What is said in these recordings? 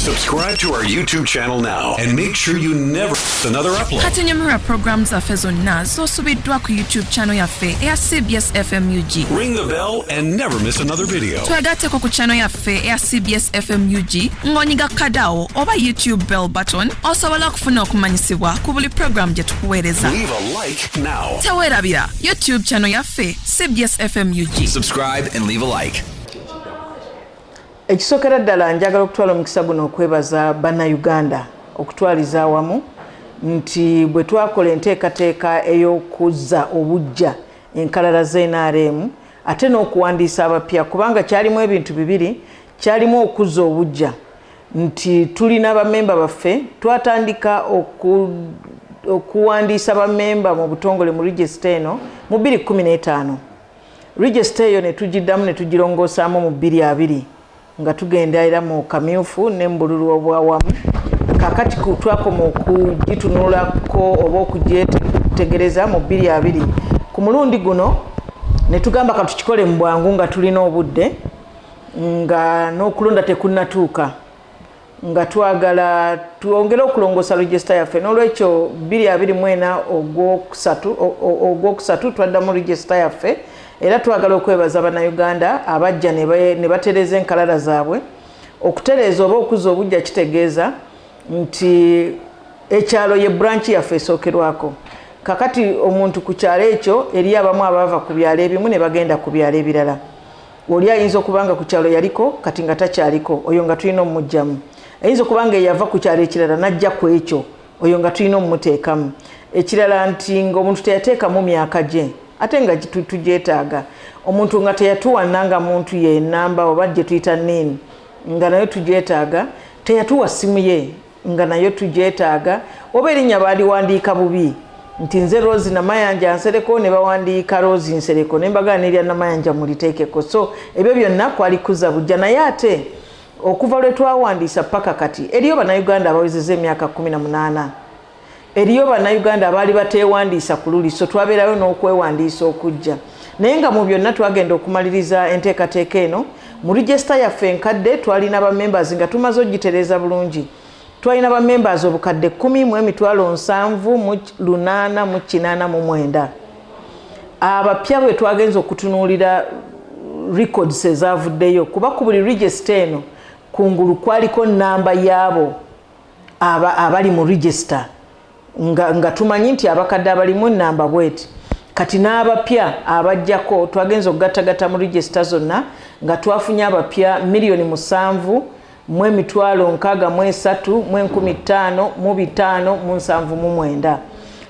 Subscribe to our YouTube channel now and make sure you never miss another upload. Kati nyumira program zaffe zonna z'osubiddwa ku YouTube channel yaffe eya CBS FMUG. Ring the bell and never miss another video. Twegatteko ku channel yaffe eya CBS FMUG ng'onyiga kadawo oba YouTube bell button osobola okufuna okumanyisibwa ku buli program gye tukuweereza. Leave a like now. Teweerabira YouTube channel yaffe CBS FMUG. Subscribe and leave a like. Ekisokera ddala njagala okutwala omukisa guno okwebaza Bannayuganda okutwaliza awamu nti bwe twakola enteekateeka ey'okuzza obuggya enkalala za NRM ate n'okuwandiisa abapya kubanga kyalimu ebintu bibiri kyalimu okuzza obuggya nti tulina bamemba baffe twatandika okuwandiisa bamemba mu butongole mu regisita eno mu 215 Register eyo ne tugiddamu ne tugirongosaamu mu bbiri abiri nga tugenda era mu kamyufu ne mu bululu obwawamu kakati twakoma okugitunulako oba okugyetegereza mu bbiri abiri ku mulundi guno ne tugamba katukikole mu bwangu nga tulina obudde nga n'okulonda tekunnatuuka nga twagala twongere okulongoosa regisita yaffe n'olwekyo 224 ogwokusatu twaddamu regisita yaffe era twagala okwebaza bannayuganda abajja ne batereeza enkalala zaabwe okutereeza oba okuzza obujja kitegeeza nti ekyalo ye buranki yaffe esookerwako kakati omuntu ku kyalo ekyo eri abamu abaava ku byalo ebimu ne bagenda ku byalo ebirala oli ayinza okuba nga ku kyalo yaliko kati nga takyaliko oyo nga tulina omumugyamu ayinza okuba nga eyava ku kyalo ekirala najja ku ekyo oyo nga tulina omumuteekamu ekirala nti ngaomuntu teyateekamu myaka gye ate nga tugyetaaga omuntu nga teyatuwanna nga muntu yenamba oba gye tuyita nini nga nayo tugyetaaga teyatuwa ssimu ye nga nayo tugyetaaga oba erinnya baaliwandiika bubi nti nze rosi namayanja nsereko ne bawandiika rosi nsereko ne mbagala nerya namayanja muliteekeko so ebyo byonna kwali kuza bujja naye ate okuva lwe twawandiisa paka kati eriyo bannayuganda abawezeza emyaka kumi na munaana Eriyo Bannayuganda abaali bateewandiisa ku luli, so twabeerayo n'okwewandiisa okujja. Naye nga mu byonna twagenda okumaliriza enteekateeka eno, mu register yaffe enkadde twalina ba members nga tumaze ogitereeza bulungi. Twalina ba members obukadde kkumi mu emitwalo nsanvu mu lunaana mu kinaana mu mwenda. Abapya bwe twagenze okutunuulira records ezaavuddeyo kuba ku buli register eno kungulu kwaliko nnamba yaabo aba abali mu register nga, nga tumanyi nti abakadde abalimu enamba bweti kati n'abapya abajjako twagenza okugattagatta mu regisita zonna nga twafunye abapya miliyoni musanvu mu emitwalo nkaaga mu esatu mu enkumi ttaano mu bitaano mu nsanvu mu mwenda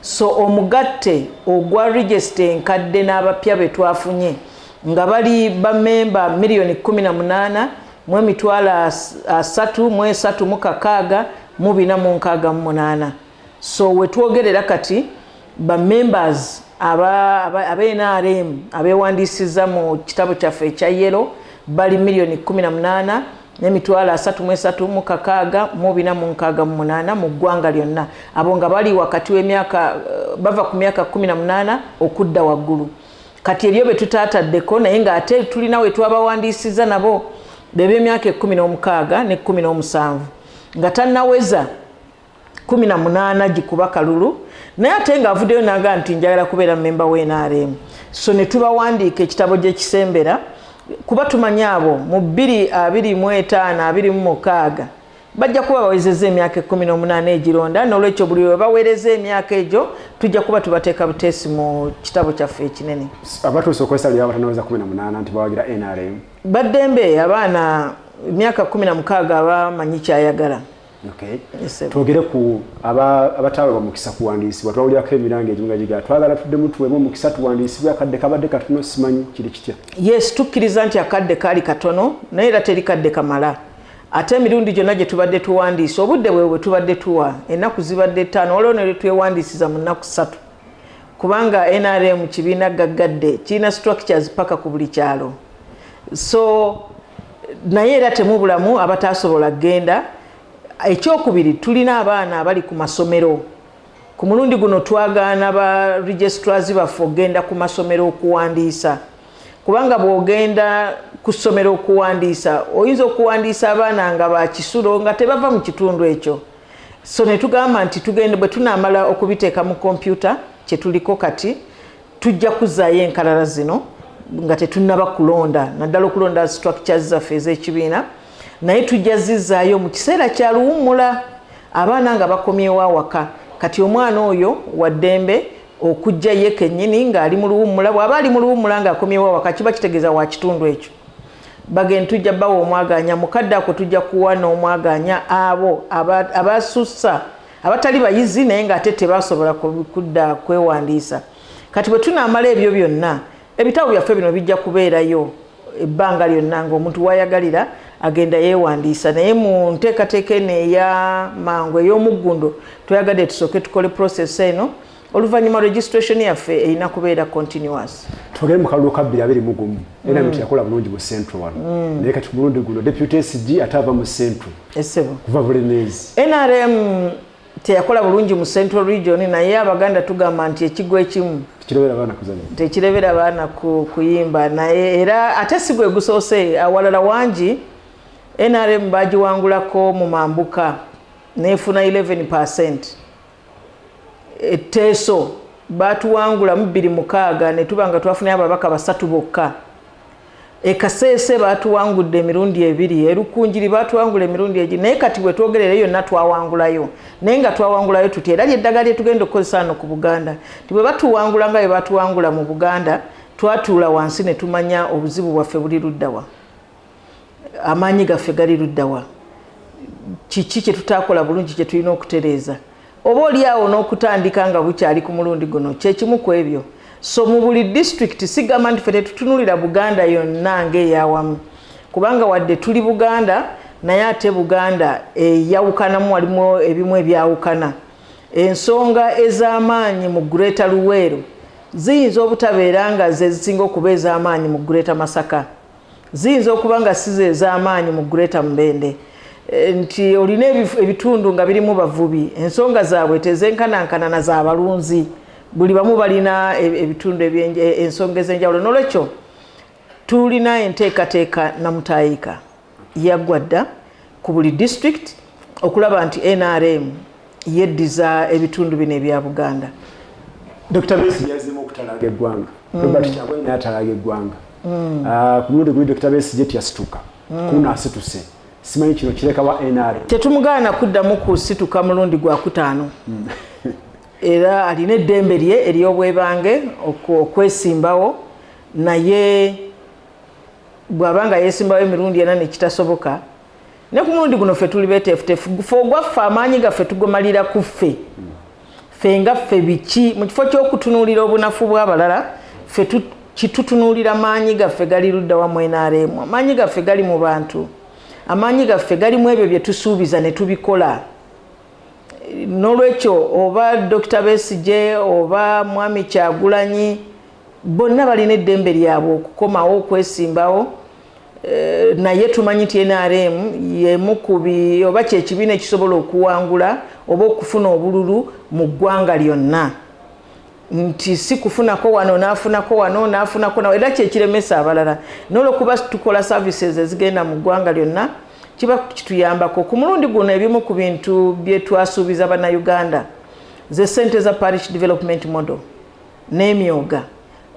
so omugatte ogwa regisita enkadde n'abapya be twafunye nga bali bamemba miliyoni kumi na munaana mu emitwalo asatu mu esatu mu kakaaga mu bina mu nkaaga mu munaana so wetwogerera kati ba members aba, aba, aba nrm abewandiisiza mu kitabo kyaffe ekya yelo bali miliyoni 18 nemitwalo asatu mu esatu mu kakaaga mu bina mu nkaaga mu munaana mu ggwanga lyonna abo nga bali wakati wemyaka eh, bava ku myaka 18 okudda waggulu kati eriyo betutaataddeko naye nga ate tulina wetwabawandiisiza nabo bebyemyaka ekumi n'omukaaga ne kumi n'omusanvu nga tannaweza kumi na munaana gikuba kalulu naye ate nga avuddeyo naga nti njagala kubeera memba wa nrm so ne tubawandiika ekitabo gyekisembera kuba tumanyi abo mu bbiri abiri mu etaano abiri mu mukaaga bajja kuba bawezezza emyaka ekkumi n'omunaana egironda n'olwekyo buli we baweereza emyaka egyo tujja kuba tubateeka buteesi mu kitabo kyaffe ekinene abatuusa okwesalira abatanaweza kumi na munaana nti bawagira nrm baddembe abaana emyaka kumi na mukaaga abamanyi kyayagala twogere ku abataaweebwa mukisa kuwandiisibwa twawulirako emiranga egimu nga gigaa twagala tuddemu tuweebwe omukisa tuwandiisibwe akadde kabadde katono simanyi kiri kitya yes tukkiriza nti akadde kaali katono naye era teri kadde kamala ate emirundi gyonna gye tubadde tuwandiisa obudde bwe bwe tubadde tuwa ennaku zibadde ttaano waliwo ne lwetwewandiisiza mu nnaku ssatu kubanga nrm kibiina gaggadde kirina structures paka ku buli kyalo so naye era temubulamu abataasobola kugenda ekyokubiri tulina abaana abali ku masomero ku mulundi guno twagaana ba registrars baffe okugenda ku masomero okuwandiisa kubanga bw'ogenda ku ssomero okuwandiisa oyinza okuwandiisa abaana nga bakisulo nga tebava mu kitundu ekyo so ne tugamba nti tugende bwe tunaamala okubiteeka mu kompyuta kye tuliko kati tujja kuzzaayo enkalala zino nga tetunnaba kulonda naddala okulonda structures zaffe ez'ekibiina naye tujja zizzaayo mu kiseera kya luwummula abaana nga bakomyewo awaka kati omwana oyo waddembe Okujja ye kennyini ng'ali mu luwummula, bw'aba ali mu luwummula ng'akomyewo awaka kiba kitegeeza wa kitundu ekyo. Bagen tujja bawa omwagaanya, mu kadde ako tujja kuwa n'omwagaanya abo abasussa abatali bayizi naye ng'ate tebasobola kudda kwewandiisa. Kati bwe tunaamala ebyo byonna, Ebitabo byaffe bino bijja kubeerayo ebbanga lyonna ng'omuntu wayagalira agenda yeewandiisa naye mu nteekateeka eno eya mangu ey'omuggundo twayagadde tusooke tukole process eno oluvannyuma registration yaffe erina kubeera continuous tugee mu kalulu ka bbiri abiri mugumu era mm. teyakola bulungi mu central wano mm. naye kati ku mulundi guno deputy sg ate ava mu central kuva bulemeezi nrm teyakola bulungi mu central region naye abaganda tugamba nti ekigwa ekimu tekirebera baana kuyimba naye era ate si gwe gusoose awalala wangi nrm bagiwangulako mu mambuka nefuna 11 percent etteeso batuwangulamu biri mukaaga netuba nga twafunayo ababaka basatu bokka E Kasese baatuwangudde emirundi ebiri, e Rukungiri baatuwangula emirundi egiri naye kati we twogerera eyo yonna twawangulayo. Naye nga twawangulayo tutya? Era ly'eddagala lye tugenda okukozesa wano ku Buganda nti bwe batuwangula nga bwe baatuwangula mu Buganda twatuula wansi ne tumanya obuzibu bwaffe buli ludda wa, amaanyi gaffe gali ludda wa, kiki kye tutaakola bulungi kye tulina okutereeza. Oba oli awo n'okutandika nga bukyali ku mulundi guno kye kimu ku ebyo. So mu buli disitulikiti sigamba nti ffe tetutunulira Buganda yonna ng'eyawamu kubanga wadde tuli Buganda naye ate Buganda eyawukanamu walimu ebimu ebyawukana. Ensonga ez'amaanyi mu Greater Luweero ziyinza obutabeera nga ze zisinga okuba ez'amaanyi mu Greater Masaka. Ziyinza okuba nga si ze z'amaanyi mu Greater Mubende eh, nti olina ebitundu nga birimu bavubi ensonga zaabwe tezenkanankana na za balunzi buli bamu balina e, ebitundu e, ensonga ez'enjawulo n'olwekyo tulina enteekateeka namutayiika yaggwa dda ku buli disitulikiti okulaba nti nrm yeddiza ebitundu bino ebya Buganda. Dr. Besi yazemu okutalaaga eggwanga. Mm. Robert mm. Kyagulanyi natalaaga eggwanga. Mm. Uh, ku mulundi guli Dr. Besi jeti yasituka. Mm. Kuna asituse. Simanyi kino kireka wa NRA. Tetumugaana kuddamu kusituka mulundi gwa kutaano. Mm. era alina eddembe lye ery'obwebange okwesimbawo naye bw'aba nga yeesimbawo emirundi ena nekitasoboka ne ku mulundi guno ffe tuli beteefuteefu fe ogwaffe amaanyi gaffe tugomalira ku ffe ffe nga ffe biki mu kifo ky'okutunuulira obunafu bw'abalala ffe kitutunuulira maanyi gaffe gali luddawa mu nrm amaanyi gaffe gali mu bantu amaanyi gaffe gali mu ebyo bye tusuubiza ne tubikola n'olwekyo oba dokita besigye oba mwami kyagulanyi bonna balina eddembe lyabwe okukomawo okwesimbawo Eh, naye tumanyi nti nrm yemukubi oba kyekibiina ekisobola okuwangula oba okufuna obululu mu ggwanga lyonna nti si kufunako wano nafunako wano nafunako nawe era kyekiremesa abalala nolwokuba tukola services ezigenda mu ggwanga lyonna kiba kituyambako ku mulundi guno ebimu ku bintu byetwasuubiza bannayuganda ze sente za parish development model n'emyooga.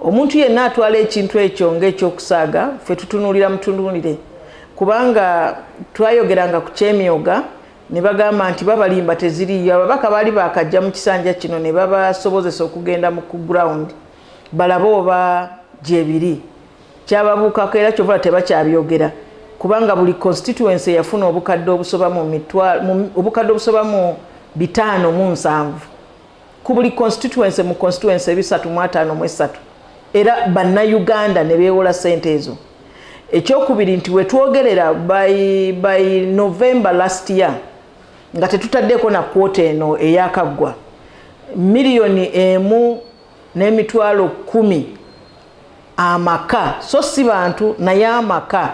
Omuntu yenna atwala ekintu ekyo ng'ekyokusaaga ffe tutunuulira mutunuulire kubanga twayogeranga ku ky'emyooga ne bagamba nti babalimba teziriiyo. Ababaka baali baakajja mu kisanja kino ne babasobozesa okugenda mu ku ground balabe oba gyebiri. Kyababuukako era kyova tebakyabyogera kubanga buli constituency yafuna obukadde obusoba mu obukadde obusoba mu bitaano mu nsanvu. ku buli constituency mu constituency ebisatu mu ataano mu esatu era bannayuganda ne beewola ssente ezo ekyokubiri nti wetwogerera by, by november last year nga tetutaddeeko na kwota eno eyakaggwa miliyoni emu n'emitwalo kumi amaka so si bantu naye amaka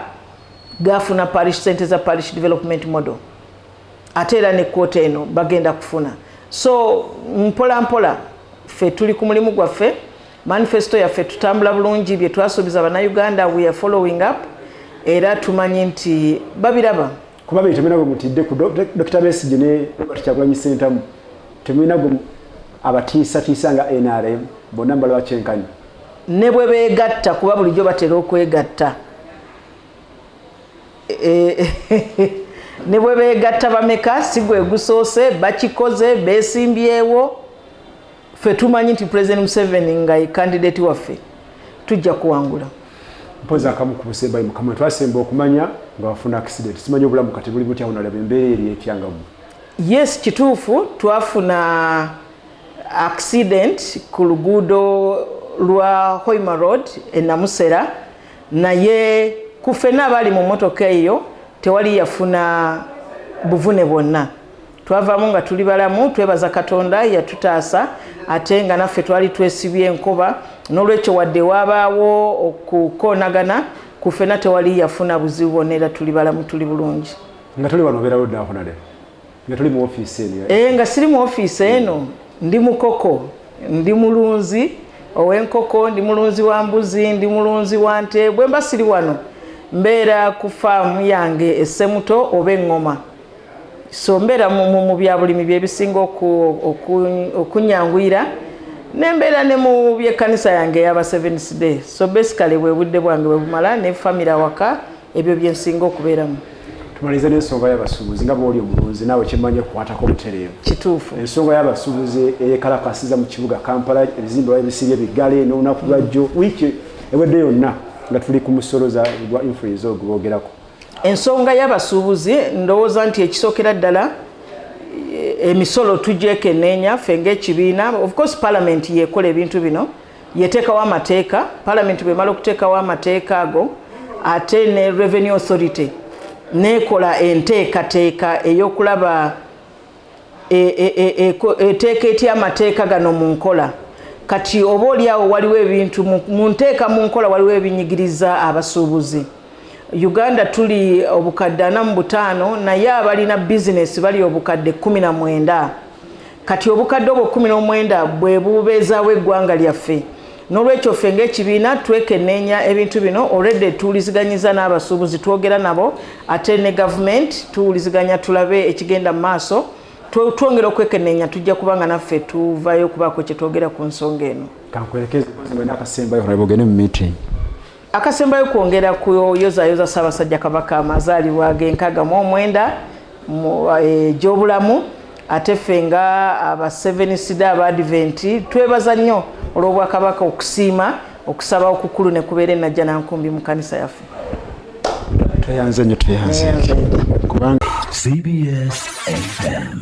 gafuna parish sente za parish development model ate era ne kkooti eno bagenda kufuna so mpola mpola ffe tuli ku mulimu gwaffe manifesto yaffe tutambula bulungi bye twasuubiza bannayuganda we are following up era tumanyi nti babiraba kuba be temulina gwe mutidde ku dokita besigye ne robert kyagulanyi sentamu temulina gwe abatiisatiisa nga nrm bonna mbalaba kyenkanyi ne bwe beegatta kuba bulijjo batera okwegatta ne bwe beegatta bameka si gwe gusoose bakikoze beesimbyewo ffe tumanyi nti president museveni nga ye kandidati waffe tujja kuwangula mpozi akamu ku busembayi mukama twasemba okumanya nga wafuna accident simanyi obulamu kati buli butya onalaba embeera eri etyangamu yes kituufu twafuna accident ku luguudo lwa hoima road enamusera naye ku ffenna abaali mu mmotoka eyo tewali yafuna buvune bwonna twavaamu nga tuli balamu twebaza katonda yatutaasa ate nga naffe twali twesibye enkoba n'olwekyo wadde waabaawo okukoonagana ku ffena tewali yafuna buzibu bwonna era tuli balamu tuli bulungi nga tuli wano obeerawo ddaako nale nga tuli mu office eno eh nga siri mu office eno ndi mukoko ndi mulunzi owenkoko ndi mulunzi wa mbuzi ndi mulunzi wa nte bwe mba siri wano mbeera ku faamu yange essemuto oba eŋŋoma so mbeera mu byabulimi byebisinga okunyanguyira nembeera ne mu byekkanisa yange eyaba seventh day so basically bwe budde bwange bwe bumala ne famire awaka ebyo byensinga okubeeramu tumalize n'ensonga y'abasuubuzi nga bwoli omulunzi naawe kyemmanyi okukwatako obutereevu kituufu ensonga y'abasuubuzi eyekalakasiza mu kibuga kampala ebizimbe wa ebisibye biggale n'olunaku lwajjo wiiki ewedde yonna nga tuli ku musolo gwa influenza ogwo boogerako ensonga y'abasuubuzi ndowooza nti ekisookera ddala eh, emisolo tugyekenneenya ffe ng'ekibiina of course palamenti yeekola ebintu bino yeteekawo amateeka palamenti bwemala okuteekawo amateeka ago ate ne revenue authority nekola enteekateeka eyokulaba e, e, e, eteeka etya amateeka gano mu nkola kati oba oliawo waliwo ebintu mu nteeka mu nkola waliwo ebinyigiriza abasuubuzi uganda tuli obukadde ana mu butaano naye abalina bizinesi bali obukadde kumi na mwenda Kati obukadde obwo kkumi n'omwenda bwe bubeezaawo eggwanga lyaffe. N'olwekyo ffe ng'ekibiina twekenneenya ebintu bino already tuwuliziganyizza n'abasuubuzi twogera nabo ate ne gavumenti tuwuliziganya tulabe ekigenda mu maaso twongera okwekenneenya tujja kuba nga naffe tuvayo okubaako kye twogera ku nsonga eno. Kankuwerekeze mwe n'akasembayo olaba ogende mu meeting. akasembayo kwongera kuyozayoza ssaabasajja kabaka amazaalibwa genkaaga mu omwenda egyobulamu eh, ate ffe nga aba seven sida aba adventi twebaza nnyo olw'obwakabaka okusiima okusaba okukulu ne kubeera enajja nankumbi mu kanisa yaffe tweyanze nnyo tweyanze kubanga cbs fm